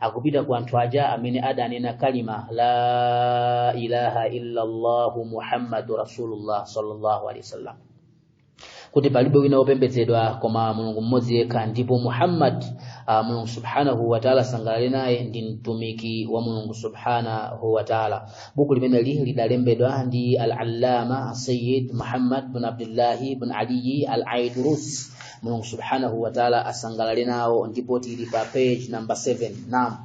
akupita kwa anthu aja amene adanena kalima la ilaha illa allah muhammadu rasulullah sallallahu alaihi wasallam kuti palibe wina wopembedzedwa koma mulungu mmodzi yekha ndipo muhammad uh, mulungu subhanahu wataala asangalale naye ndi mtumiki wa mulungu subhanahu wataala buku limeneli lidalembedwa ndi al-allama sayid muhammad bin abdullahi bin aliyi al-aidrus mulungu subhanahu wa taala asangalale nawo ndipo tili pa page number 7 naam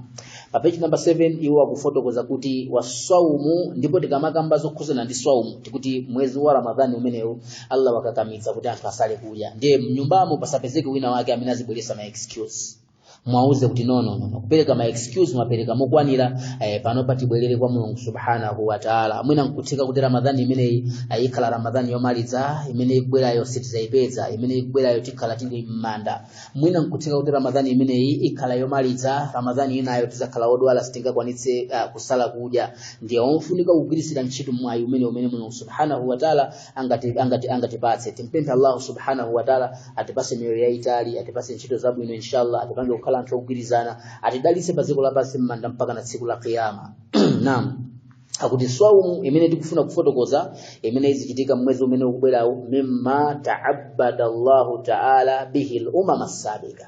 pa page number 7 iwo akufotokoza kuti wasaumu ndipo tikamakamba zokhuzana ndi saumu tikuti mwezi wa ramadhani umenewu allah wakakamiza kuti anthu asale kudya ndiye mnyumbamo pasapezeke wina wake amene azibweresa ma excuse muwauze kuti no no no kupereka ma excuse mwapereka mokwanira eh, pano patibwerere kwa mulungu subhanahu wa taala mwina nkutheka kuti ramadhani imeneyi eh, ikhala ramadhani yomaliza imene ikubwerayo sitizayipeza imene ikubwerayo tikhala tili m'manda mwina nkutheka kuti ramadhani imeneyi ikhala yomaliza ramadhani inayo tizakhala odwala sitingakwanitse uh, kusala kudya ndiye pofunika kugwiritsira ntchito mwayi umene umene mulungu subhanahu wa taala angati angati angatipatse timupemphe Allah subhanahu wa ta'ala atipase miyoyo yaitali atipase ntchito zabwino inshallah atipange kukhala anthu ogwirizana atidalitse pa dziko lapansi mmanda mpaka na tsiku la kiyama naam akuti swaumu imene tikufuna kufotokoza imene izichitika m'mwezi umene ukubwerawo mimma ta'abbada Allahu ta'ala bihi al-umam as-sabiqa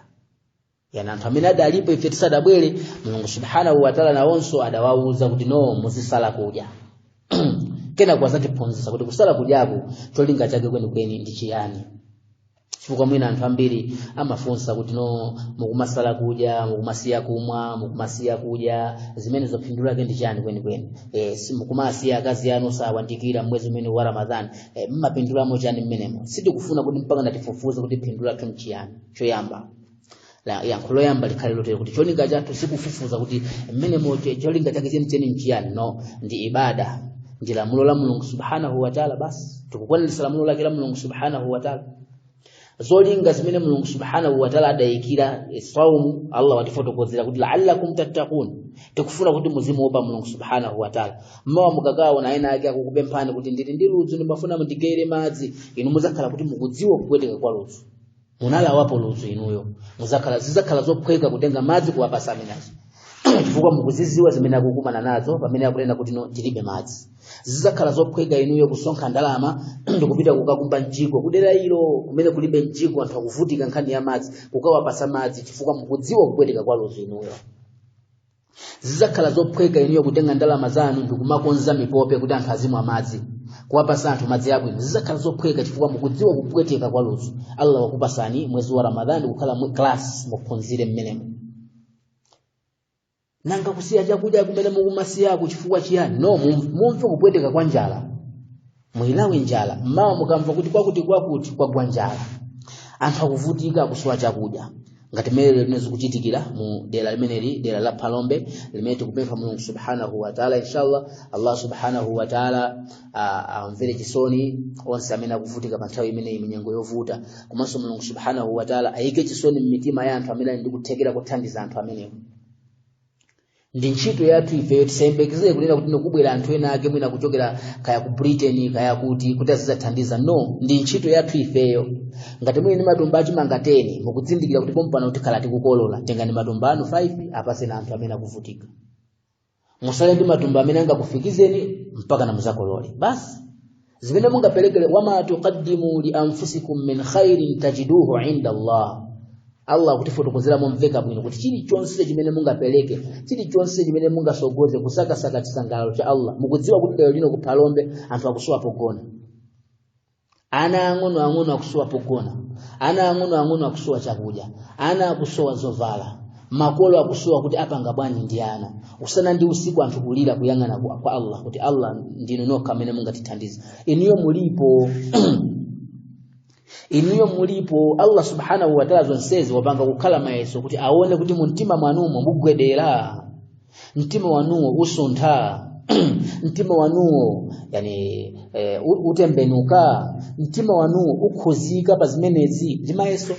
yani anthu amene adalipo ife tisadabwere mulungu subhanahu wataala nawonso adawauza kuti no muzisala kudya kenako azatiphunzitsa kuti kusala kudyaku cholinga chake kwenikweni ndi chiyani chifukwa mwina anthu ambiri amafunsa kuti no mukumasala kudya mukumasiya kumwa mukumasiya kudya zimenezo phindu lake ndi chiyani kwenikweni e, mukumasiya akazi anu osawayandikira mwezi umene wa ramadhani e, mmapindulamo chiyani mmenemo sitikufuna kuti mpakana tifufuze kuti phindu lathu nchiyani choyamba la yankho loyamba likhale lotero kuti cholinga chathu sikufufuza kuti mmenemo che cholinga chake chenicheni nchiyani no ndi ibada ndi lamulo la mulungu subhanahu wataala basi tikukwaniritsa lamulo lake la mulungu subhanahu wataala zolinga zimene mulungu subhanahu wataala adayikira saumu allah watifotokozera kuti laallakum tattaqun tikufuna kuti muzimuopa mulungu subhanahu wataala mmawa mukakaona ena ake akukupemphani kuti ndili ndi ludzu ndimafuna mundigaire madzi inu muzakhala kuti mukudziwa kupweteka kwa ludzu munalawapo ludzu inuyo muzakhala zizakhala zophweka kutenga madzi kuwapasa amenewo chifukwa mukuziziwa zimene akukumana nazo pamene akunena kuti no tilibe madzi zizakhala zophweka inuyo kusonkha ndalama ndikupita kukakumba mjigo kudera ilo kumene kulibe mjigo anthu akuvutika nkhani ya madzi kukawapasa madzi chifukwa mukudziwa kupweteka kwa ludzu inuyo zidzakhala zophweka inuyo kutenga ndalama zanu ndikumakonza mipope kuti anthu azimwa madzi kuwapasa anthu madzi abwino zidzakhala zophweka chifukwa mukudziwa kupweteka kwa ludzu allah wakupasani mwezi wa ramadhani kukhala mu class muphunzire mmenemo nanga kusiya chakudya kumene mukumasiyako chifukwa chiyani no mumve kupweteka kwa njala muyilawe njala mmawa mukamva kuti kwakuti kwakuti kwagwa njala anthu akuvutika kusowa chakudya ngati mmene limene zikuchitikira mu dera limeneli dera la phalombe limene tikupempha mulungu subhanahu wataala inshallah allah subhanahu wataala amvere chisoni onse amene akuvutika pa nthawi imeneyi munyengo yovuta komanso mulungu subhanahu wataala ayike chisoni m'mitima ya anthu amene ali ndi kuthekera kothandiza anthu amenewo ndi ntchito yathu ifeyo tisayembekezere kunena kuti ndikubwera anthu ena ake mwina kuchokera kaya ku britain kaya kuti kuti adzathandiza no ndi ntchito yathu ifeyo ngati muli ndi matumba achimanga 10 mukudzindikira kuti pompano tikhala tikukolola tengani matumba anu 5 apaseni anthu amene akuvutika musale ndi matumba amene angakufikizeni mpaka na muzakolole basi zimene mungaperekere wama tuqaddimu li anfusikum min khairin tajiduhu inda Allah Allah akutifotokozera momveka bwino kuti chilichonse chimene mungapereke chilichonse chimene mungasogoze kusakasaka chisangalalo cha Allah mukudziwa kuti lero lino kuphalombe anthu akusowa pogona ana ang'ono ang'ono akusowa pogona ana ang'ono ang'ono akusowa chakudya ana akusowa zovala makolo akusowa kuti apanga bwanji ndi ana usana ndi usiku anthu kulira kuyang'ana kwa allah kuti allah ndinu nokha amene mungatithandize inuyo mulipo inuyo mulipo allah subhanahu wataala zonsezi wapanga kukhala mayeso kuti aone kuti mumtima mwanumo mugwedera mtima wanuwo usuntha mtima wanuwo yani e, u- utembenuka mtima wanuwo ukhuzika pa zimenezi ndi mayeso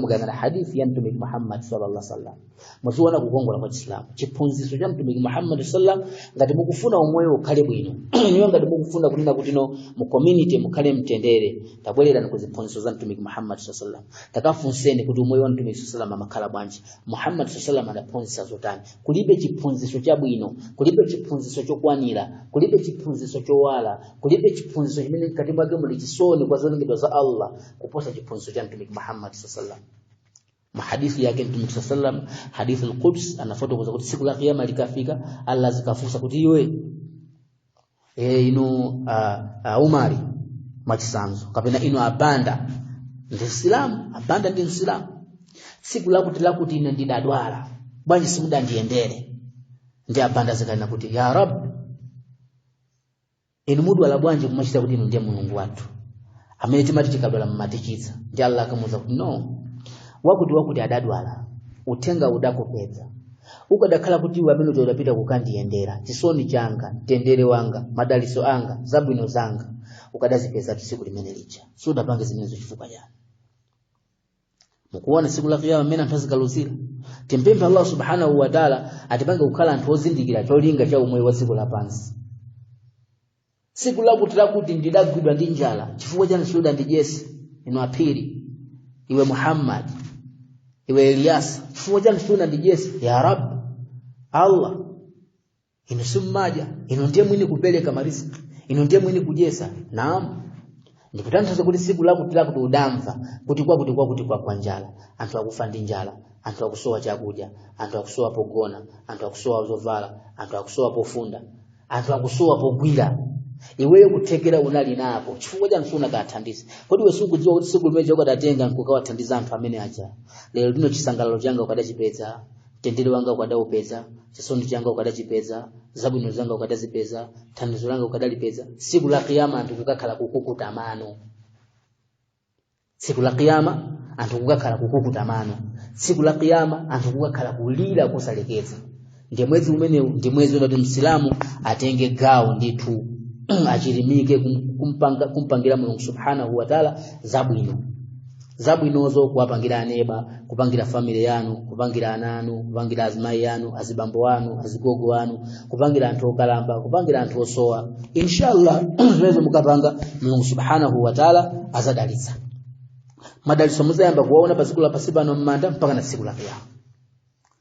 mukayang'ana hadithi ya mtumiki muhammad sallallahu alaihi wasallam muchiona kukongola kwa chisilamu chiphunzitso cha mtumiki muhammad sallallahu alaihi wasallam ngati mukufuna umoyo ukhale bwino inuyo ngati mukufuna kunena kuti no mu community mukhale mtendere tabwererani ku ziphunzitso za mtumiki muhammad sallallahu alaihi wasallam takafunseni kuti umoyo wa mtumiki sallallahu alaihi wasallam amakhala bwanji muhammad saa salam adaphunzitsa zotani kulibe chiphunzitso chabwino kulibe chiphunzitso chokwanira kulibe chiphunzitso chowala kulibe chiphunzitso chimene mkati mwake muli chisoni kwa zolengedwa za allah kuposa chiphunzitso cha mtumiki muhammad saa salam mahadithi yake mtumiki saa salam hadithi lquds anafotokoza kuti siku la kiyama likafika allah azikafunsa kuti iwe e inu a, a umari mwachisanzo kapena inu abanda ndi msilamu abanda ndi msilamu tsiku lakuti lakuti ine ndidadwala bwanji simudandiyendere ndi abanda azikanena kuti ya rab inu mudwala bwanji kumachita kuti inu ndiye mulungu wathu amene timati tikadwala mmatichiza ndi allah akamuuza kuti no wakuti wakuti adadwala uthenga udakupeza ukadakhala kuti iwe amene uja udapita kukandiyendera chisoni changa mtendere wanga madalitso anga zabwino zanga ukadazipezatu tsiku limene lija sudapange zimenezo chifukwa chani mukuona tsiku la kiyama mmene anthu azikaluzira timpemphe allah subhanahu wataala atipange kukhala anthu ozindikira cholinga cha umoyo wa dziko lapansi tsiku lakuti lakuti ndidagwidwa ndi njala chifukwa chani sudandidyetse inu aphiri iwe muhammad iwe eliyasa chifukwa chani sudandidyetse ya rabi allah inu simmadya inu ndiye mwini kupereka mariziki inu ndiye mwini kudyetsa naam ndikutanthauza kuti tsiku lakuti lakuti udamva kuti kwakuti kwakuti kwagwa njala anthu akufa ndi njala anthu akusowa chakudya anthu akusowa pogona anthu akusowa zovala anthu akusowa pofunda anthu akusowa pogwira iweyo kuthekera unali nako chifukwa chani sunakathandize kodi iwe sukudziwa kuti tsiku limene ukadatenga nkukawathandiza anthu amene aja lero lino chisangalalo changa ukadachipeza mtendere wanga ukadaupeza chisoni changa ukadachipeza zabwino zanga ukadazipeza thandizo langa ukadalipeza tsiku la kiyama anthu kukakhala kukukuta mano tsiku la kiyama anthu kukakhala kukukuta mano tsiku la kiyama anthu kukakhala kulira kosalekeza ndiye mwezi umenewu ndi mwezi woti msilamu atenge gawo ndithu achirimike kumpangira mulungu subhanahu wataala zabwino zabwinozo kuwapangira aneba kupangira family yanu kupangira ana anu kupangira azimayi anu azibambo anu azigogo anu kupangira anthu okalamba kupangira anthu osowa inshallah izo mukapanga mulungu subhanahu wa taala azadalitsa madalitso muzayamba kuwaona pa dziko la pansi pano m'manda mpakana tsiku la kiyama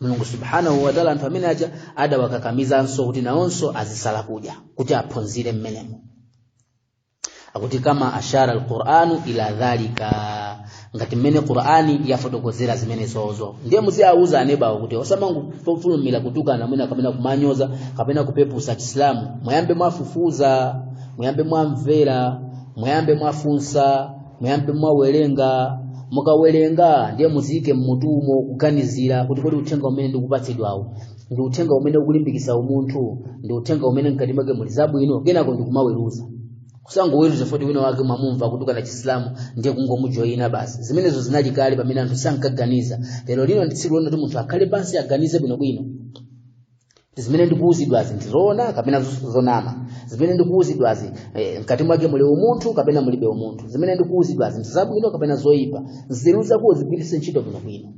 mulungu subhanahu wataala anthu amene aja adawakakamizanso kuti nawonso azisala kudya kuti aphunzire mmenemo akuti kama ashara alquranu ila dhalika ngati mmene qurani yafotokozera zimenezozo ndiye muziawuza anebawo kuti osamangofulumira kutukana mwina kapena kumanyoza kapena kupeputsa chisilamu muyambe mwafufuza muyambe mwamvera muyambe mwafunsa muyambe mwawerenga mukawerenga ndiye muziike mmutumo kuganizira kuti kodi uthenga umene ndikupatsidwawu ndi uthenga umene ukulimbikitsa umunthu ndi uthenga umene mkati mwake muli zabwino kenako ndikumaweruza osangoweruza poti wina wake mwamumva kutukana chisilamu ndiye kungomujoyina basi zimenezo zinali kale pamene anthu sankaganiza lero lino ndi tsiku lonena kuti munthu akhale pansi aganize bwinobwino zimene ndikuwuzidwazi ndizoona kapena zos- zonama zimene ndikuwuzidwazi eh, mkati mwake muli umunthu kapena mulibe umunthu zimene ndikuwuzidwazi ndi zabwino kapena zoyipa nzeru zako zigwiritse ntchito bwinobwino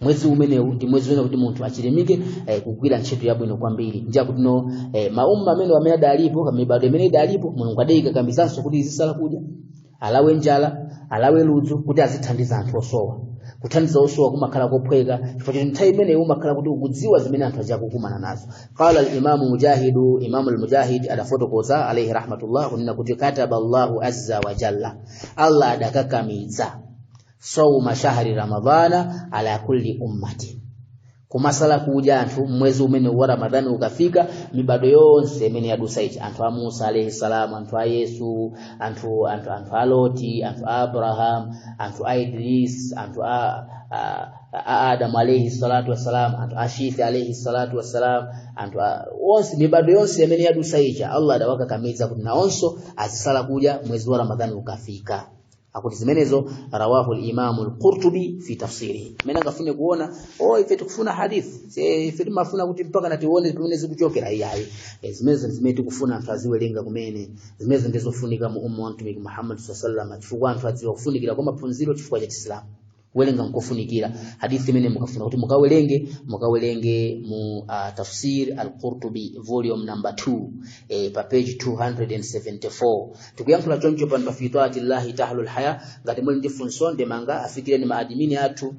mwezi umenewu ndi mwezi wina kuti munthu achilimike eh, kugwira ntchito yabwino kwambiri ndiye kuti no eh, maumma amene amene adalipo kamibado imene idalipo mulungu adayikakamizanso kuti izisala kudya alawe njala alawe ludzu kuti azithandiza anthu osowa kuthandiza osowa kumakhala kophweka chifukwa choti nthawi imeneyi umakhala kuti ukudziwa zimene anthu aja akukumana nazo qala alimamu mujahidu imamu almujahid adafotokoza alaihi rahmatullah kunena kuti kataba allahu azza wa jalla allah adakakamiza sauma shahri ramadana ala kulli ummatin kumasala kudya anthu mwezi umene wa ramadhani ukafika mibado yonse imene yadusa ija anthu a musa alayhi salam anthu a yesu anthu anthu anthu a loti anthu a abraham anthu a idris anthu a, a, a adamu alayhi salatu wassalam anthu a shith alayhi salatu wassalam anthu a- onse mibado yonse imene yadusa ija allah adawakakamiza kuti nawonso azisala kudya mwezi wa ramadhani ukafika akuti zimenezo rawahu al-Imam al-Qurtubi fi tafsirihi amene angafune kuona oh ife tukufuna hadithi ife tumafuna kuti mpakana tione pamene zikuchokera iyayi e, zimenezo zimene tikufuna anthu aziwelenga kumene zimenezo ndizofunika mu umma wa mtumiki Muhammad sallallahu alaihi wasallam chifukwa anthu adziwa kufunikira kwa maphunziro chifukwa cha Chisilamu kuwerenga nkofunikira hadithi imene mukafuna kuti mukawerenge mukawerenge mu uh, tafsir al-Qurtubi volume number 2 eh, pa page 274 tikuyankhula choncho pano pa fi twaati llahi tahlul haya ngati muli ndi funso ndemanga afikireni maadimini athu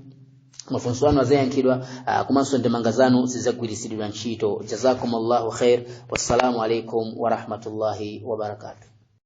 mafunso anu azayankhidwa uh, komanso ndemanga zanu zizagwiritsidwa ntchito jazakumullahu khair wassalamu alaikum warahmatullahi wabarakatuh